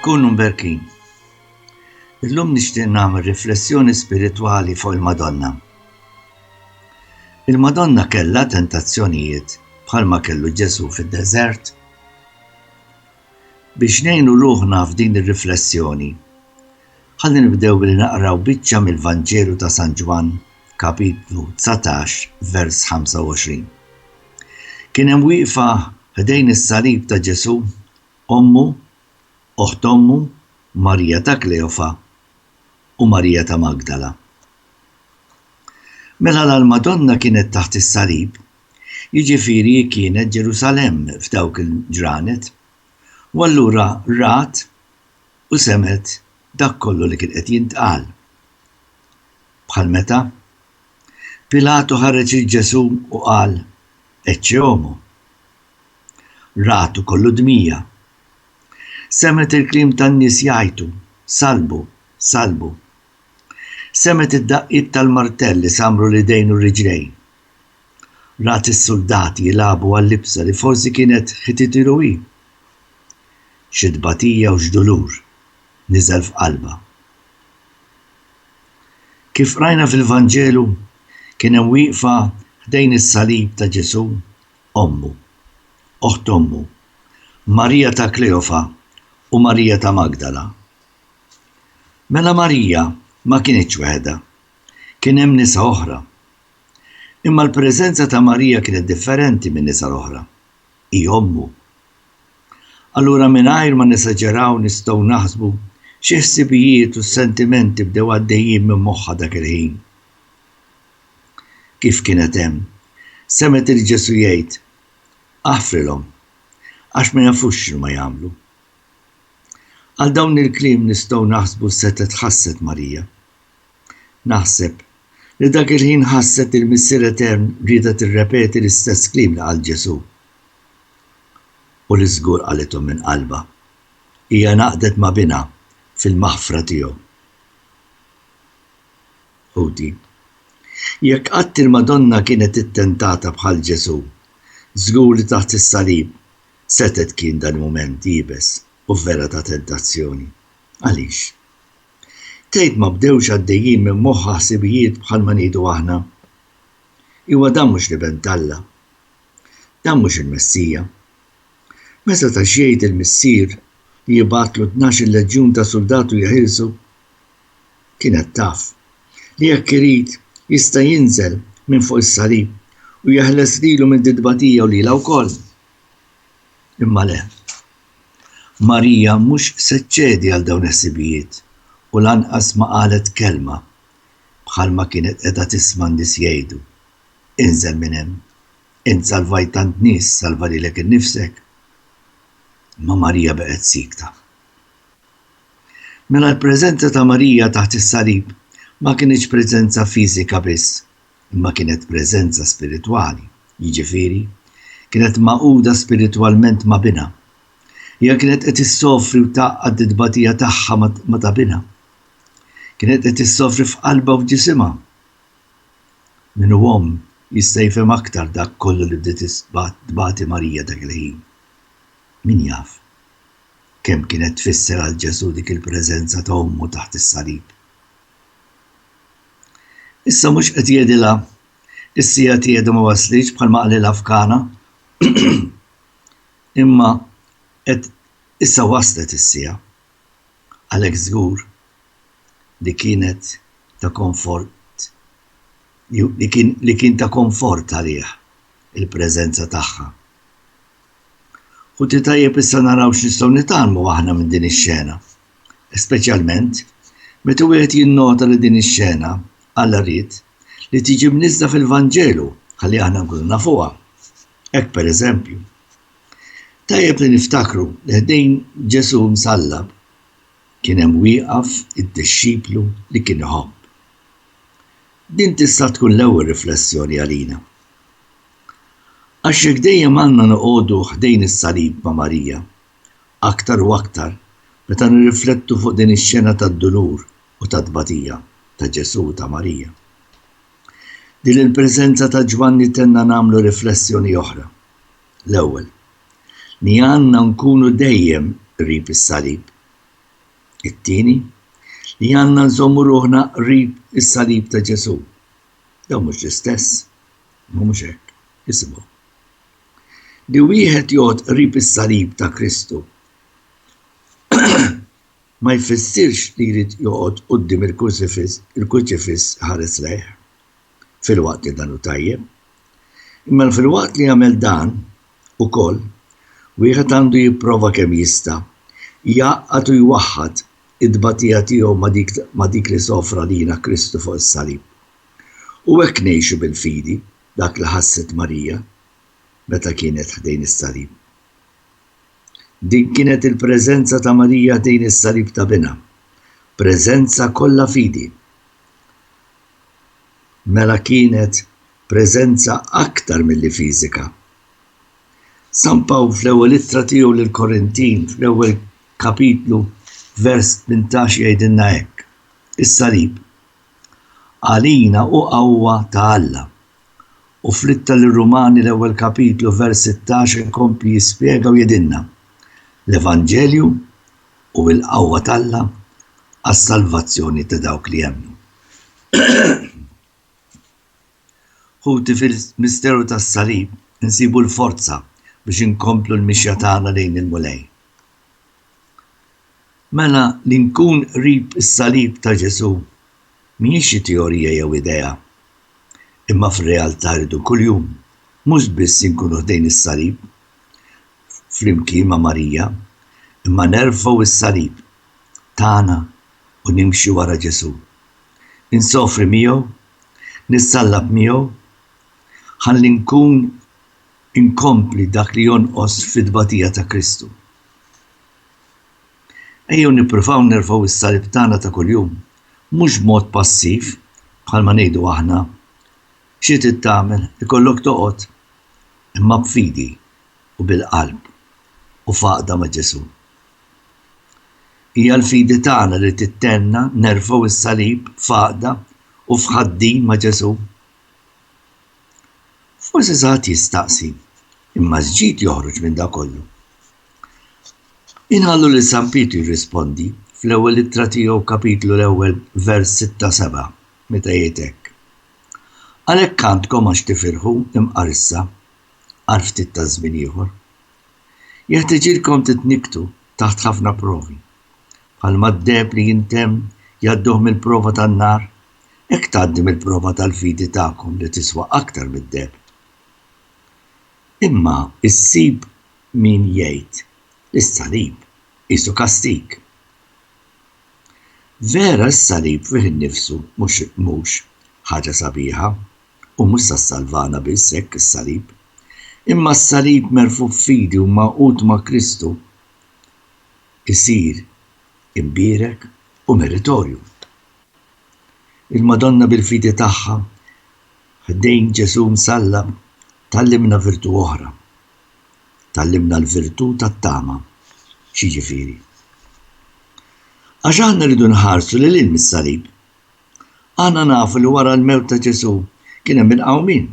Kunu mberkin. Illum nixtieq nagħmel riflessjoni spiritwali fuq il-Madonna. Il-Madonna kellha tentazzjonijiet bħalma kellu Ġesù fid-deżert. Biex ngħinu ruħna f'din ir-riflessjoni, ħalli nibdew billi naqraw biċċa mill-Vanġelu ta' San Ġwann, kapitlu dsatax, vers 25. Kien hemm wieqfa ħdejn is-salib ta' Ġesù, ommu, oħt ommu, Marija ta' Kleofa u Marija ta' Magdala. Mela l-Madonna kienet taħt is-salib jiġifieri hi kienet Ġerusalemm f'dawk il-ġranet, u allura rat u semgħet dak kollu li kien qed jintqal. Bħal meta? Pilatu ħareġ lil Ġesù u qal, Ecce homo. Ratu kollu dmija. Semgħet il-kliem tan-nies jgħajtu, Salbu, salbu. Semgħet id-daqqiet tal-martell li samru l-idejn u r-riġlejn Rat is-suldati jilagħbu għal-libsa li forsi kienet ħititilu hi. Xi tbatija u x'dulur niżel f'qalbha. Kif qrajna fil-Vanġelu, kien hemm wieqfa ħdejn is-salib ta' Ġesù ommu, oħt ommu, Marija ta' Kleofa u Marija ta' Magdala. Mela Marija ma kinitx weħedha, kien hemm nisa oħra. Imma l-preżenza ta' Marija kienet differenti min-nisa l-oħra. Hi ommu. Allura mingħajr ma nesaġeraw nistgħu naħsbu xi ħsibijiet u sentimenti bdew għaddejjin minn moħħha dak il-ħin. Kif kienet hemm, semgħet lil Ġesù jgħid, Aħfrilhom, għax ma jafux x'inhuma jagħmlu. Għal dawn il-kliem nistgħu naħsbu setgħet ħasset Marija. Naħseb, li dak il-ħin ħasset li l-Missier Etern riedha tirrepeti l-istess kliem li qal Ġesù. U li żgur qalithom minn qalbha. Hija ngħaqdet ma' Binha fil-maħfra tiegħu. Ħuti, jekk qatt il-Madonna kienet ittentata bħal Ġesù, żgur li taħt is-salib setgħet kien dal-mument iebes u vera ta' tentazzjoni. Għaliex? Tgħid ma bdewx għaddejjin minn moħħha ħsibijiet bħalma ngħidu aħna? Iwa dan mhux l-Iben t'Alla. Dan mhux il-Messija. Ma setax jgħid il-Missier li jibgħatlu tnax-il leġjun ta' suldatu jeħilsu? Kienet taf li jekk irid jista' jinżel minn fuq is-salib u jeħles lilu minn ditba tiegħu lilha wkoll. Imma le. Marija mhux se ċċedi għal dawn il-ħsibijiet u lanqas ma qalet kelma, bħalma kienet qiegħda tisma' n-nies jgħidu, Inżel minn hemm! Int salvajt tant nies, salva lilek innifsek! Imma Marija baqgħet siekta. Mela l-preżenza ta' Marija taħt is-salib ma kinitx preżenza fiżika biss, imma kienet preżenza spiritwali, jiġifieri, kienet magħquda spiritwalment ma' Binha. Hija kienet qed issofri u tgħaqqad it-tbatija tagħha ma' ta' Binha. Kienet qed issofri f'qalbha u f'ġisimha. Min hu omm jista' jifhem aktar dak kollu li bdiet tbati Marija dak il-ħin. Min jaf kemm kienet tfisser għal Ġesù dik il-preżenza ta' ommu taħt is-salib. Issa mhux qed jgħidilha, Is-siegħa tiegħi għadha ma waslitx bħalma qalilha f'Kana, imma qed issa waslet is-siegħa. Għalhekk żgur li kienet ta' konfort li kien ta' konfort għalih il-preżenza tagħha. Ħuti tajjeb issa naraw x'nistgħu nitgħallmu aħna minn din ix-xena. speċjalment meta wieħed jinnota li din ix-xena, Alla ried, li tiġi mniżżla fil-Vanġelu ħalli aħna nkunu nafuha. Hekk pereżempju. Tajjeb li niftakru li ħdejn Ġesù msallab kien hemm wieqaf id-dixxiplu li kien iħobb. Din tista' tkun l-ewwel riflessjoni għalina. Għax jekk dejjem għandna noqogħdu ħdejn is-salib ma' Marija, aktar u aktar meta nirriflettu fuq din ix-xena tad-dulur u tat-tbatija ta' Ġesù u ta' Marija. Din il-preżenza ta' Ġwanni tenna nagħmlu riflessjoni oħra. L-ewwel, li għandna nkunu dejjem qrib is-salib. It-tieni, li għandna nżommu ruħna qrib is-salib ta' Ġesù. Dawn mhux l-istess? Imma mhux hekk, isimgħu. Li wieħed joqgħod qrib is-salib ta' Kristu ma jfissirx li jrid joqgħod quddiem il-kurċifiss ħares lejh filwaqt li dan hu tajjeb. Imma filwaqt li jagħmel dan ukoll wieħed għandu jipprova kemm jista' jgħaqqad u jwaħħad it-tbatija tiegħu ma' dik li sofra lina Kristu fuq is-salib. U hekk ngħixu bil-fidi dak li ħasset Marija meta kienet ħdejn is-salib. Din kienet il-preżenza ta' Marija ħdejn is-salib ta' Binha, preżenza kollha fidi. Mela kienet preżenza aktar milli fiżika. San Pawl fl-ewwel ittra tiegħu lil Korintin fl-ewwel kapitlu vers 18 jgħidilna hekk, is-salib Għalina hu qawwa ta' Alla. U fl-Ittra lir-Rumani l-ewwel kapitlu vers 16 ikompli jispjega u jgħidilna, L-Evanġelju hu l-qawwa t'Alla għas-salvazzjoni ta' dawk li jemmnu. Ħuti fil-misteru tas-Salib insibu l-forza biex inkomplu l-mixja tagħna lejn il-Mulej. Mela li nkun qrib is-Salib ta' Ġesù mhijiex xi teorija jew idea, imma fir-realtà rridu kuljum mhux biss inkunu ħdejn is-Salib flimkien ma' Marija, imma nerfgħu s-Salib tagħna u nimxu wara Ġesù. Insofri miegħu Nissallab miegħu ħalli nkun inkompli dak li jonqos fit-tbatija ta' Kristu. Ejjew nippruvaw nerfgħu s-salib tagħna ta' kuljum, mhux b'mod passiv bħalma ngħidu aħna, xi trid tagħmel, ikollok toqgħod, imma b'fidi u bil-qalb u f'għaqda ma' Ġesù. Hija l-fidi tagħna li tittenna nerfgħu s-salib f'għaqda u f'ħaddin ma' Ġesù. Forsi xi ħadd jistaqsi, imma x'ġid joħroġ minn dan kollu? Inħallu lil San Pietru jirrispondi fl-ewwel ittra tiegħu kapitlu l-ewwel vers 6-7 meta jgħid hekk. Għalhekk għandkom għax tifirħu imqar issa għal ftit ta' żmien ieħor. Jeħtiġilkom titnikktu taħt ħafna provi. Bħalma d-deheb li jintemm jgħadduh mill-prova tan-nar, hekk tgħaddi mill-prova tal-fidi tagħkom li tiswa aktar mid-deheb. Imma ssib min jgħid li s-salib qisu kastig. Vera s-salib fih innifsu mhux ħaġa sabiħa. u mhux sa ssalvana biss hekk is-salib, imma s-salib merfugħ f'fidi u magħqud ma' Kristu jsir imbierek u meritorju. Il-Madonna bil-fidi tagħha ħdejn Ġesù msallab tgħallimna virtù oħra, tgħallimna l-virtù tat-tama. X'jiġifieri? Għax aħna rridu nħarsu lil hinn mis-salib. Aħna nafu li wara l-mewt ta' Ġesù kien hemm il-qawmien.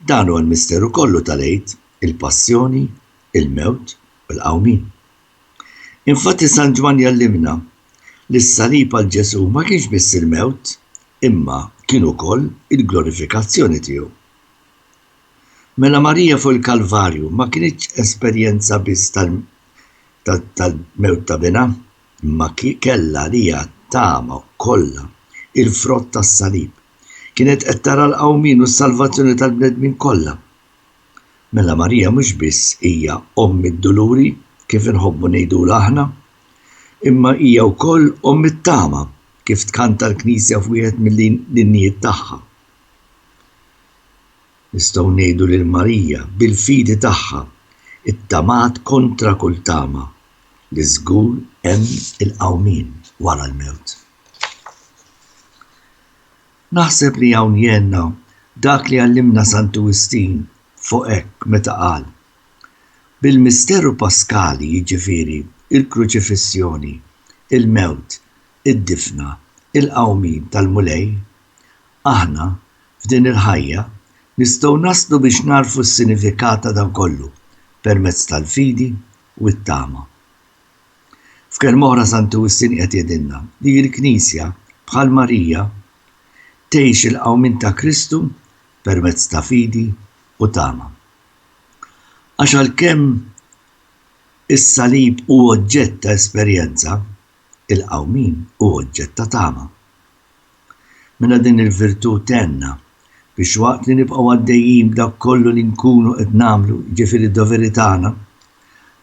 Dan huwa l-misteru kollu tal-Għid, il-passjoni, il-mewt u l-qawmien. Infatti San Ġwann jgħallimna li s-salib għal Ġesù ma kienx biss il-mewt imma kien ukoll il-glorifikazzjoni tiegħu. Mela Marija fuq il-Kalvarju ma kinitx esperjenza biss tal-mewt ta' binha, Imma kellha għaliha t-tama kollha, il-frott tas-salib. Kienet qed tara l-qawmien u s-salvazzjoni tal-bnedmin kollha. Mela Marija mhux biss hija Omm id-Duluri, kif inħobbu ngħidulha aħna, imma hija wkoll Omm it-Tama, kif tkanta l-Knisja f'wieħed mill-innijiet tagħha. Nistgħu ngħidu lil Marija, bil-fidi tagħha, ittamaat kontra kull tama li żgur hemm il-qawmien wara l-mewt. Naħseb li hawn jgħinna dak li għallimna Santu Wistin fuq hekk meta qal, Bil-misteru paskali, jiġifieri, il-kruċifissjoni, il-mewt, id-difna, il-qawmien tal-Mulej, Aħna, f'din il-ħajja, nistgħu naslu biex nagħrfu s-sinifikat ta' dan kollu permezz tal-fidi u t-tama. F'kelma oħra Santu Wistin qiegħed jgħidilna li l-Knisja, bħal Marija, tgħix il-qawmien ta' Kristu permezz ta' fidi u tama. Għax għalkemm is-salib hu oġġett ta' esperjenza, il-qawmien hu oġġett ta' tama. Mela din il-virtù tgħinna biex waqt li nibqgħu għaddejjin b'dak kollu li nkunu qed nagħmlu, jiġifieri d-doveri tagħna,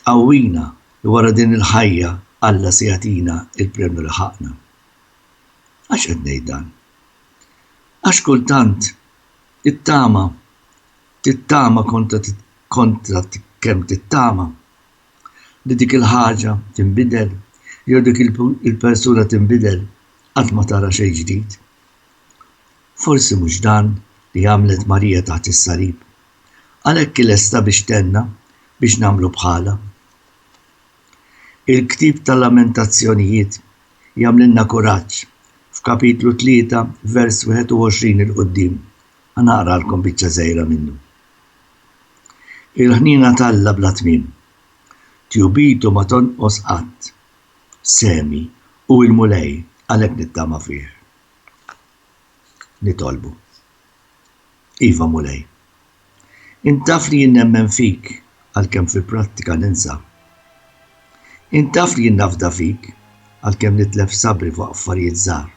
tqawwina li wara din il-ħajja Alla se jagħtina l-premju li ħaqqna. Għax qed ngħid dan? Għax kultant it-tama tittama kontra kemm tittama. li dik il-ħaġa tinbidel jew dik il-persuna tinbidel, qatt ma tara xejn ġdid. Forsi mhux dan li għamlet Marija taħt is-salib. Għalhekk hi lesta biex tenna biex nagħmlu bħalha. Il-ktieb tal-Lamentazzjonijiet jagħmlilna kuraġġ f'kapitlu 3 vers 21 il-qudiem. Għanaqralkom biċċa żgħira minnu. Il-ħniena t'Alla bla tmiem. Tjubitu ma tonqos qatt. Semi, hu il-Mulej, għalhekk nittama fih. Nitolbu. Iva, Mulej. Int taf li jien nemmen fik, għalkemm fil-prattika ninsa. Int taf li jien nafda fik, għalkemm nitlef sabri fuq affarijiet żgħar.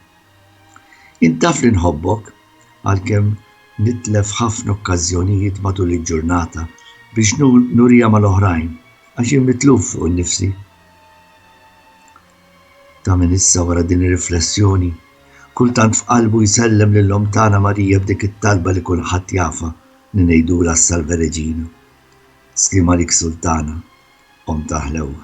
Int taf li nħobbok, għalkemm nitlef ħafna okkażjonijiet matul il-ġurnata biex nuriha mal-oħrajn għax jien mitluf fuq innifsi. Ta' minn issa wara din ir-riflessjoni, kultant f'qalbu jsellem lil Omm tagħna Marija b'dik it-talba li kulħadd jafha li ngħidulha s-Salve Regina. Sliem għalik Sultana, Omm tal-Ħlewwa.